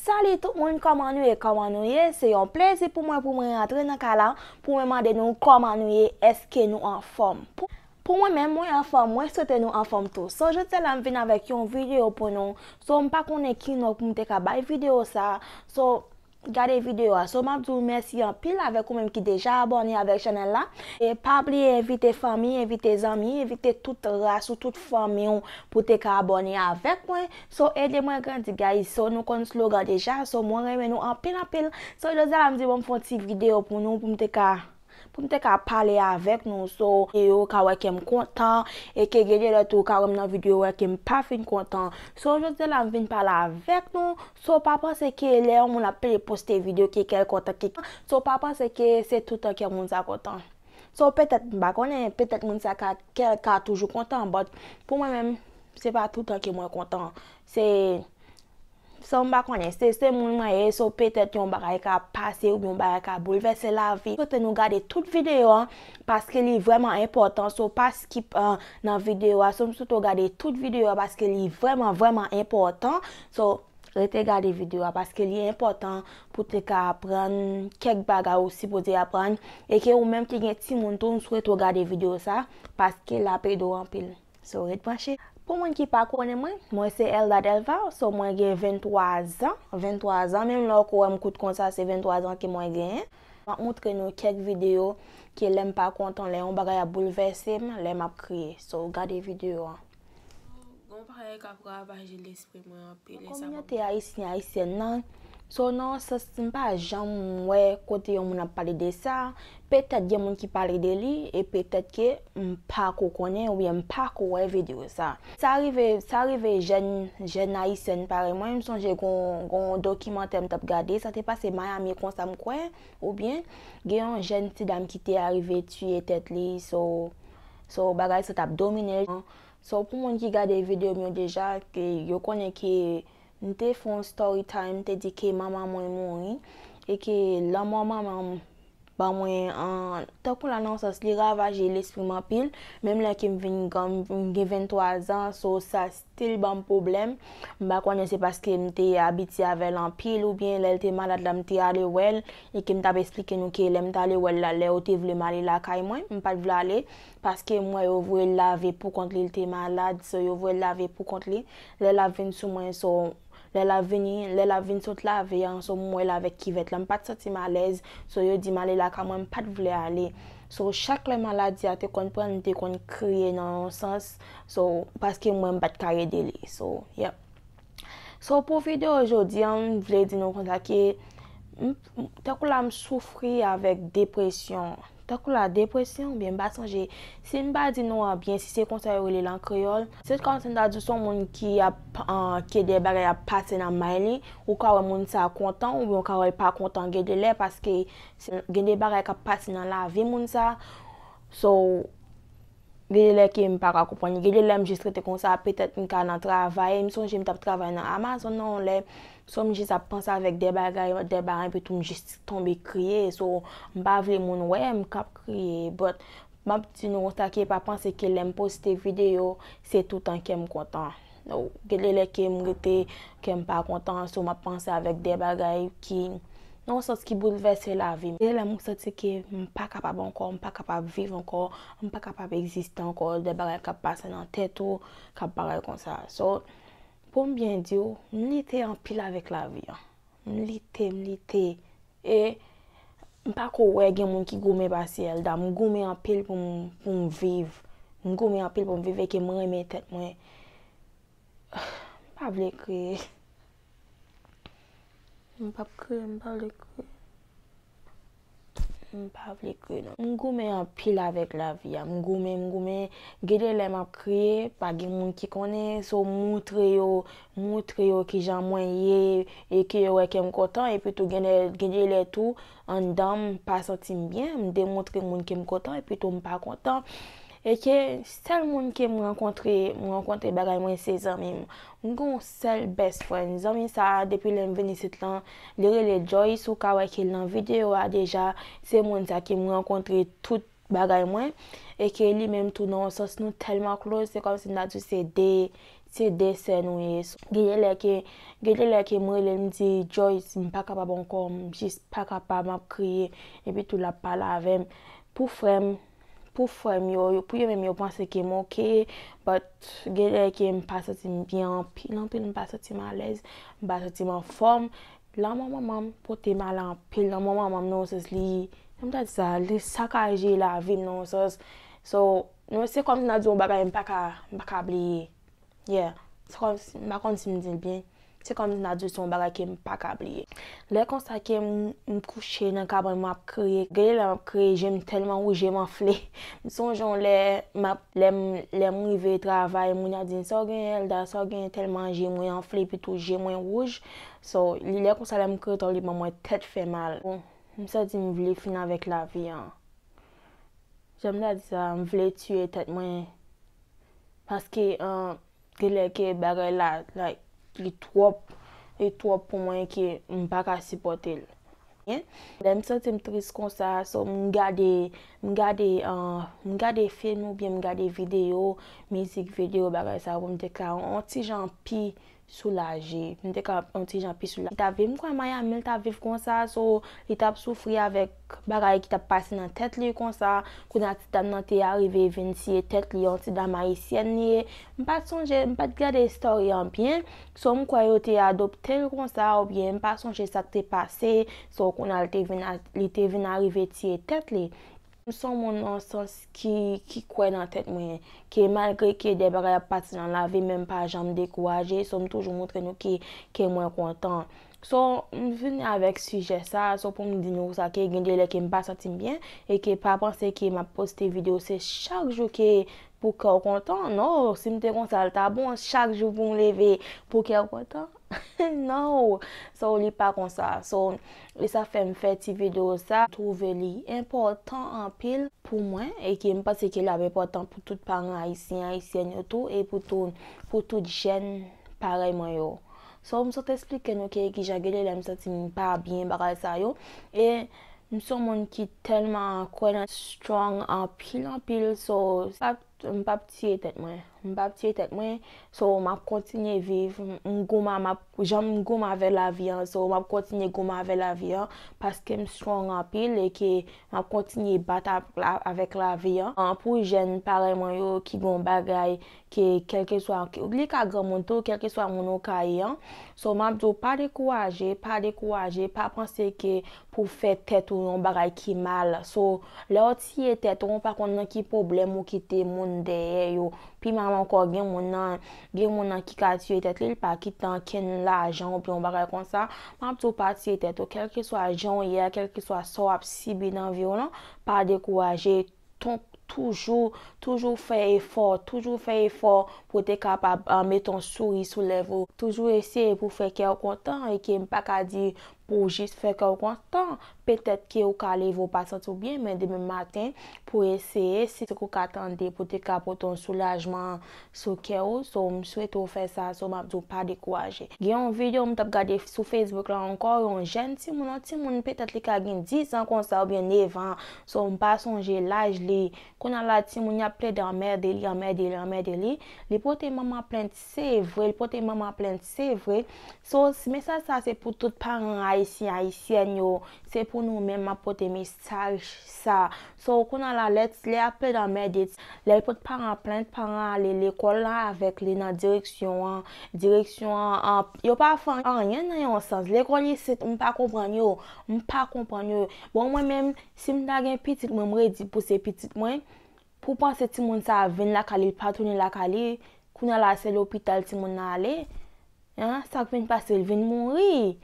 Salut tout moun kòman nou ye kòman nou ye se yon plezi pou mwen pou mwen rantre nan kay la pou mwen mande nou kòman nou ye eske nou anfòm pou mwen menm mwen anfòm mwen swete nou anfòm tou so jodia la m vin avèk yon video pou nou so m pa konnen ki non pou m te ka bay video sa so gade video a so map di w mèsi anpil avèk ou menm ki deja abòne avèk chanèl la e pa bliye envite fanmi envite zanmi envite tout ras ou tout fanmi w pou te ka abòne avèk mwen So ede mwen grandi guys so nou konn slogan deja so mwen renmen nou anpil anpil so jodi a la m di bon m fè yon ti video pou nou pou m te ka pou m te ka pale avèk nou so yo ka wè ke m kontan e ke gen de lè tou ou ka wè m nan video ou wè ke m pa fin kontan so jodi a la m vin pale avèk nou so pa panse ke lè yon moun ap peye poste video ke kè l kontan ke so pa panse ke se toutan kè moun sa kontan so petèt m pa konnen petèt moun sa ka kè l ka toujou kontan but pou mwen menm. Se pa toutan ke mwen kontan. Se San m pa konnen. Se se moun mwen ye so petèt yon bagay ka pase oubyen yon bagay ka boulvèse lavi. M swete nou gade tout videyo an paske li vrèman enpòtan so pa skip nan videyo a so m swete w gade tout videyo a paske li vrèman vrèman enpòtan so rete gade videyo a paske li enpòtan pou te ka aprann kèk bagay ou sipoze aprann e ke ou menm ki gen timoun tou m swete w gade videyo sa paske l ap ede w anpil. So ret branche. Pou moun ki pa konnen mwen, mwen se Elda Delva, so mwen gen 23 zan, 23 zan, menm lè ou ko wèm kout konsa se 23 zan ke mwen genyen. Map moutre nou kèk video ke lèm pa kontan, lè yon bagay ap boulvèsem, lè map kriye. So gade video an. Gon bagay kap ravaje lespri. Nan kominote ayisyen ayisyèn nan, so nan yon sans m pa janm wè kote yon moun ap pale de sa, petèt gen moun ki pale de li e petèt ke m pa ko konnen oubyen m pa ko wè videyo sa. Sa rive sa rive jèn jèn ayisyèn parèy mwen, m sonje gon gon dokimantè m t ap gade sa te pase Miami konsa m kwè oubyen gen yon jèn ti dam ki te arive tiye tèt li so so bagay sa t ap domine So pou moun ki gade video m yo deja ke yo konnen ke m te fè yon story time m te di ke manman mwen mouri e ke lanmò manman m ban mwen tankou la nan yon sans li ravaje lespri m anpil menm lè ke m vin gran m gen 23 zan so sa still banm pwoblèm m pa konnen se paske m te abitye avè l anpil oubyen lè l te malad la m te ale wè l e ke m t ap esplike nou ke lè m t ale wè l la lè yo te vle m ale lakay mwen m pat vle ale Paske mwen yo voye l lave poukont li l te malad so yo voye l lave poukont li lè lap vin sou mwen so lè lap vini lè lap vin sot lave an so mwen l avèk kivèt la m pat santi m alèz so yo di m ale lakay mwen m pat vle ale so chak lè maladi a te konn pran l m te konn kriye nan yon sans so paske mwen m pat ka ede li so yep so pou video jodi an m vle di nou konsa ke m Tankou la m soufri avèk depresyon. Tankou la depresyon oubyen m pa sonje si m pa di nou an byen si se konsa yo rele l an kreyòl. Se kòm si m ta di w se yon moun ki ap ke de bagay ap pase nan may li, ou ka wè moun sa kontan oubyen ou ka wè l pa kontan gen de lè paske gen de bagay k ap pase nan lavi moun sa. So Gen de lè ke m pa ka konprann. Gen de lè m jis rete konsa, petèt m ka nan travay. M sonje m t ap travay nan Amazon nan yon lè, so m jis ap panse avèk de bagay, de bagay epi tou m jis tonbe kriye. So, m pa vle moun wè m k ap kriye. But, m ap di nou konsa ke pa panse ke lè m poste videyo, se toutan kè m kontan. Gen de lè ke m rete, kè m pa kontan, so m ap panse avèk de bagay ki, nan yon sans ki boulvèse lavi m. Gen de lè m santi ke m pa kapab ankò, m pa kapab viv ankò, m pa kapab egziste ankò, de bagay k ap pase nan tèt ou, k ap bagay konsa. So, pou m byen di w, m lite anpil avèk lavi an. M lite, m lite. E m pa ko wè gen moun ki goumen pase Elda. M goumen anpil pou m, pou m viv. M goumen anpil pou m viv e ke m renmen tèt mwen. M pa vle kriye. M pap kriye, m pa vle kriye. M pa vle kriye non. M goumen anpil avèk lavi a. M goumen, m goumen. Gen de lè m ap kriye, pa gen moun ki konnen. So m moutre yo, m moutre yo ki jan mwen ye e ke yo wè ke m kontan. Epi tou gen de lè tou anndan m pa santi m byen, m demoutre moun ke m kontan epi tou m pa kontan. E ke sèl moun ke m rankontre, m rankontre bagay mwen se zanmi m. M gen yon sèl best friend zanmi sa depi lèm vin isit lan li rele Joyce ou ka wè ke l nan video a deja se moun sa ki m rankontre tout bagay mwen e ke li menm tou nan yon sans nou tèlman close se kòmsi m ta di se 2 se 2 sè nou ye so gen de lè ke gen de lè ke m rele l m di Joyce m pa kapab ankò m jis pa kapab m ap kriye epi tou l ap pale avè m pou frè m Pou frèm yo, pou yo menm yo panse ke m ok, but gen lè ke m pa santi m byen anpil anpil, m pa santi m alèz, m pa santi m anfòm. Lanmò manman m pote m ale anpil, lanmò manman m nan yon sans li, jan m ta di sa, li sakaje lavi m nan yon sans. So, se kòm si n ap di yon bagay m pa ka, m pa ka bliye. Yeah, se kòm si, m pa konn si m di l byen, se kòm si m ta di l se yon bagay ke m pa ka bliye. Lè konsa ke m kouche nan kabann mwen ap kriye, gen de lè m ap kriye je m tèlman wouj je m anfle. M sonje yon lè m ap, lè m, lè m rive travay moun an di m sa w genyen Elda, sa w genyen tèlman je mwen anfle epi tou je mwen wouj. So, li lè konsa lè m kriye twòp li ban mwen tèt fè mal. M santi m vle fin avèk lavi an. Janm ta di sa a m vle tuye tèt mwen paske genlè ke bagay la like li twòp li twòp pou mwen ke m pa ka sipòte l lè m santi m tris konsa so m gade m gade m gade film oubyen m gade video mizik video bagay sa yo pou m te ka on ti jan pi soulaje m te ka yon ti jan pi soulaje li ta vin kwè Miami li ta viv konsa so li tap soufri avèk bagay ki tap pase nan tèt li konsa kounye a ti dam nan te arive vin tiye tèt li yon ti dam ayisyèn li ye m pat sonje m pat gade story an byen so m kwè yo te adoptel konsa oubyen m pa sonje sak te pase so kounye a li te vin arive tiye tèt li. M son moun nan yon sans ki kwè nan tèt mwen ke malgre ke de bagay ap pati nan lavi men m pa janm dekouraje so m toujou montre nou ke ke mwen kontan so m vini avèk sijè sa so pou m di nou sa ke gen de lè ke m pa santi m byen e ke pa panse ke m ap poste video se chak jou ke pou kè w kontan non si m te konsa l ta bon chak jou pou m leve pou kè w kontan. No! So li pa konsa. So e sa fè m fè ti video sa. Twouve li enpòtan anpil pou mwen e ke m panse ke l ap enpòtan pou tout paran ayisyen, ayisyèn yo tou e pou tou pou tout jèn parèy mwen yo. So m sot esplike nou ke ki jan gen de lè m santi m pa byen bagay sa yo e m s on moun ki tèlman kwè nan strong anpil anpil so sa M pap tiye tèt mwen. M pap tiye tèt mwen, so m ap kontinye viv. M gouman, m ap, jan m gouman avè lavi an, so m ap kontinye gouman avè lavi an, paske m strong anpil e ke m ap kontinye bat avèk lavi an. Pou jèn parèy mwen yo ki gen yon bagay ke kèlkeswa, li ka granmoun tou, kèlkeswa moun ou ka ye an, so m ap di w pa dekouraje, pa dekouraje, pa panse ke pou w fè tèt ou yon bagay ki mal, so lè w. Tiye tèt ou, ou pa konn nan ki pwoblèm ou kite moun dèyè yo. Pi mal ankò, gen moun nan, gen moun nan ki ka tiye tèt li, li pa kite ankenn lajan oubyen yon bagay konsa. M ap di w pa tiye tèt ou, kèlkeswa jan ou ye a, kèlkeswa sa w ap sibi nan vi w lan, pa dekouraje, toujou, toujou fè efò, toujou fè efò pou w te kapab mete yon souri sou lèv ou, toujou eseye pou w fè kè w kontan, e ke m pa ka di Pou w jis fè kè w kontan. Petèt ke ou ka leve ou pa santi w byen, men demen maten, pou w eseye, si se kou ka tande, pou te ka pote yon soulajman sou kè ou, so m swete w fè sa, so m ap di w pa dekouraje. Gen yon video m t ap gade sou Facebook la ankò, yon jèn timoun, yon timoun petèt li ka gen 10 an konsa oubyen 9 an, so m pa sonje laj li, kounye a la timoun y ap plede anmède li, anmède li, anmède li, li pote manman plent, Se vre, li pote manman an plent, se vre. So, mesaj sa se pou tout paran ayisyen, ayisyèn yo, se pou nou menm map pote mesaj sa. So, kounye a la, lè lè a pled anmède, lè l pot paran an plent, paran an ale lekòl la avèk li nan direksyon an, direksyon an, yo pa fè anyen nan yon sans. Lekòl isit, m pa konprann yo, m pa konprann yo. Bon mwen menm, si m ta gen pitit mwen, m redi pou se pitit mwen, Pou panse timoun sa vin lakay li pa tounen lakay li kounya la se lopital timoun nan ale hein sak vin pase li vin mouri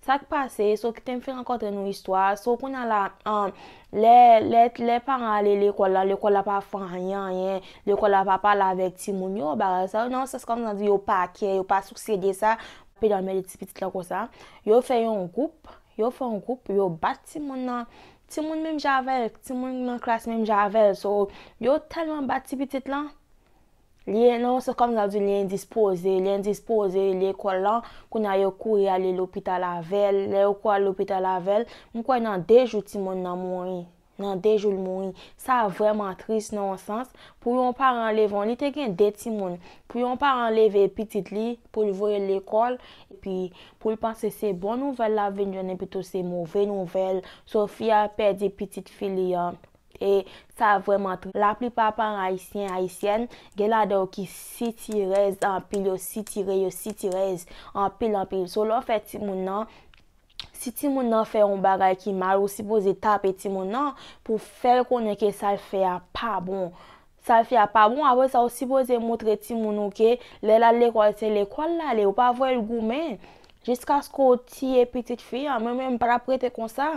sak pase so kitem fin rankontre nou istwa so kounya la an lè lè lè paran ale lekòl la lekòl la pa fè anyen anyen lekòl la pa pale avèk timoun yo bagay sa nan yon sans kòm nan di yo pa kè yo pa sousye de sa yo pral mède ti pitit la konsa yo fè yon gwoup yo fè yon gwoup yo bat timoun nan Timoun menm jan avèl, timoun nan klas menm jan avèl, so yo tèlman bat ti pitit lan, li nan yon sans kòm sa di li endispoze, li endispoze, li lekòl lan, kounye a yo kouri ale lopital avèl, lè yo kouri ale lopital avèl, m kwè nan 2 jou timoun nan mouri, nan 2 jou l mouri, sa vrèman tris nan yon sans, pou yon paran leve, li te gen 2 timoun, pou yon paran leve pitit li, pou l voye l lekòl, epi poul panse se bon nouvèl lap vin jwenn epitou se move nouvèl, Sofia pèdi pitit fi li an e sa vrèman tris. La plipa paran ayisyen, ayisyèn, gen ladan yo ki sitirèz anpil, yo sitire, yo sitirèz anpil anpil. So lè w fè timoun nan, si timoun nan fè yon bagay ki mal ou sipoze tape timoun nan pou fèl konnen ke sal fè a pa bon. Sal fè a pa bon aprè sa ou sipoze moutre timoun ou ke lè lal lekòl se lekòl lale ou pa voyel goumen jiskaske ou tiye pitit fi an mwen menm m pa tap rete konsa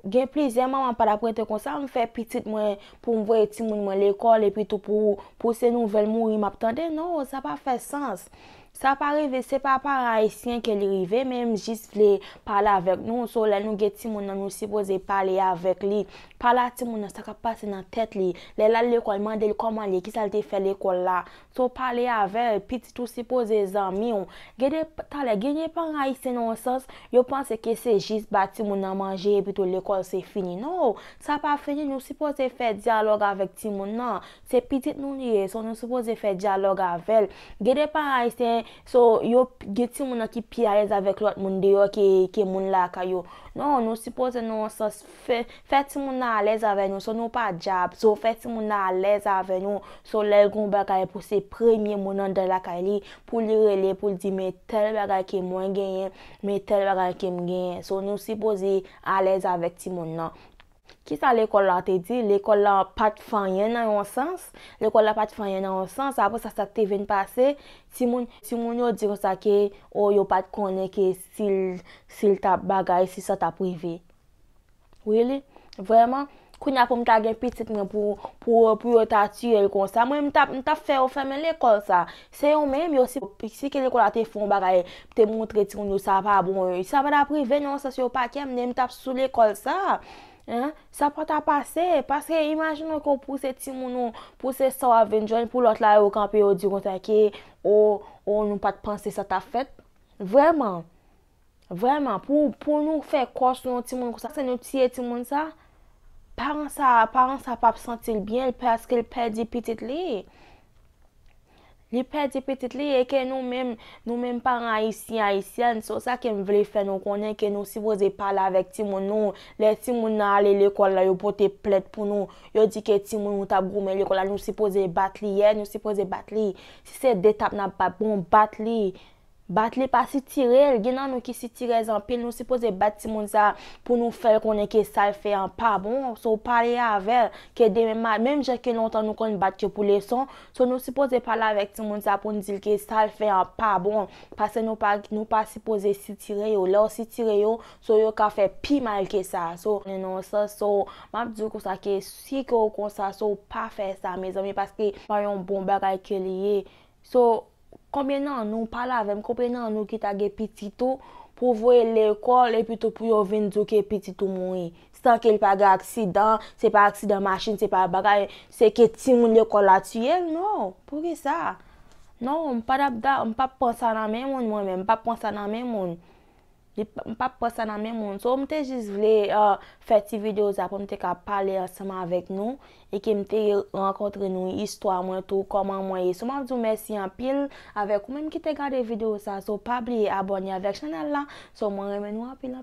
gen plizyè manman pa tap rete konsa m fè pitit mwen poum voye timoun mwen lekòl epitou pou se nouvèl mouri map tande non sa pa fè sans Sa pa rive se pa par ayisyen ke li rive men m jis vle pale avèk nou so lè nou gen timoun nan nou sipoze pale avèk li pale a timoun nan sa kap pase nan tèt li lè lal lekòl mande l kòman l ye kisa l te fè lekòl la so pale avèl pitit ou sipoze zanmi w gen de talè gen de paran ayisyen nan yon sans yo panse ke se jis ba timoun nan manje epitou lekòl se fini no sa pa fini nou sipoze fè dyalòg avèk timoun nan Se pitit nou li ye so nou sipoze fè dyalòg avèl. Gen de paran ayisyen so yo gen timoun nan ki pi alèz avèk lòt moun deyò ke ke moun lakay yo. Non nou sipoze nan yon sans fè fè timoun nan alèz avè nou so nou pa dyab so fè timoun nan alèz avè nou so lèl gon bagay pou se premye moun andan lakay li pou li rele poul di men tèl bagay ke mwen genyen men tèl bagay kem genyen so nou sipoze alèz avèk timoun nan. Kisa lekòl la te di? Lekòl la pa t fè anyen nan yon sans, lekòl la pa t fè anyen nan yon sans, apre sa sa k te vin pase, timoun, timoun yo di konsa ke o yo pa t konnen ke si l, si l t ap bagay, si sa t ap rive. Really? Vrèman? Kounye a pou m ta gen pitit mwen pou, pou, pou yo ta tiye l konsa, mwen m t ap, m t ap fè yo fèmen lekòl sa a. Se yo menm, yo si si ke lekòl la te fon bagay, te montre timoun yo sa pa bon, sa pa tap rive nan yon sans yo pa kèm, nenm tap sou lekòl sa, hein, sa pa ta pase, paske imajinon ke w pouse timoun ou, pouse sa wap vin jwenn pou lòt la yo kanpe yo di w konsa ke, o, o nou pat panse sa tap fèt, vrèman. Vrèman pou pou nou fè kò sou yon timoun konsa se nou tiye timoun sa paran sa paran sa pap santil byen paske l pèdi pitit li li pèdi pitit li e ke nou menm nou menm paran ayisyen ayisyèn se sa ke m vle fè nou konnen ke nou sipoze pale avèk timoun nou lè timoun nan ale lekòl la yo pote plent pou nou yo di ke timoun nou tap goumen lekòl la nou sipoze bat li e nou sipoze bat li si se 2 tap nap bat bon bat li Bat li pa sitirel, gen nan nou ki sitirèz anpil nou sipoze bat timoun sa pou nou fèl konnen ke sal fè an pa bon, so pale avèl ke demen ma, menm jan ke lontan nou konn bat yo pou leson, so nou sipoze pale avèk timoun sa poun dil ke sal fè an pa bon, paske nou pa nou pa sipoze sitire yo, lèw sitire yo so yo ka fè pi mal ke sa, so. Nan yon sans so map diw konsa ke si ke ou konsa so pa fè sa mezanmi paske pa yon bon bagay ke li ye, so. Konbyen nan nou, pale avè m, konbyen nan nou ki ta gen pitit ou pou w voye lekòl epitou pou yo vin di w ke pitit ou mouri san ke l pa gen aksidan, se pa aksidan machin, se pa bagay, se ke timoun lekòl la tiye l? Non! Poukisa? Non, m pa t ap da, m p ap pran sa nan men moun mwen menm, m p ap pran sa nan men moun. Li pa, m pap pran sa nan men moun. So m te jis vle fè ti video sa pou m te ka pale ansanm avèk nou e ke m te rankontre nou, istwa mwen tou, kòman mwen ye. So map di w mèsi anpil avèk ou menm ki te gade video sa. So pa bliye abòne avèk chanèl la. So mwen renmen nou anpil anpil.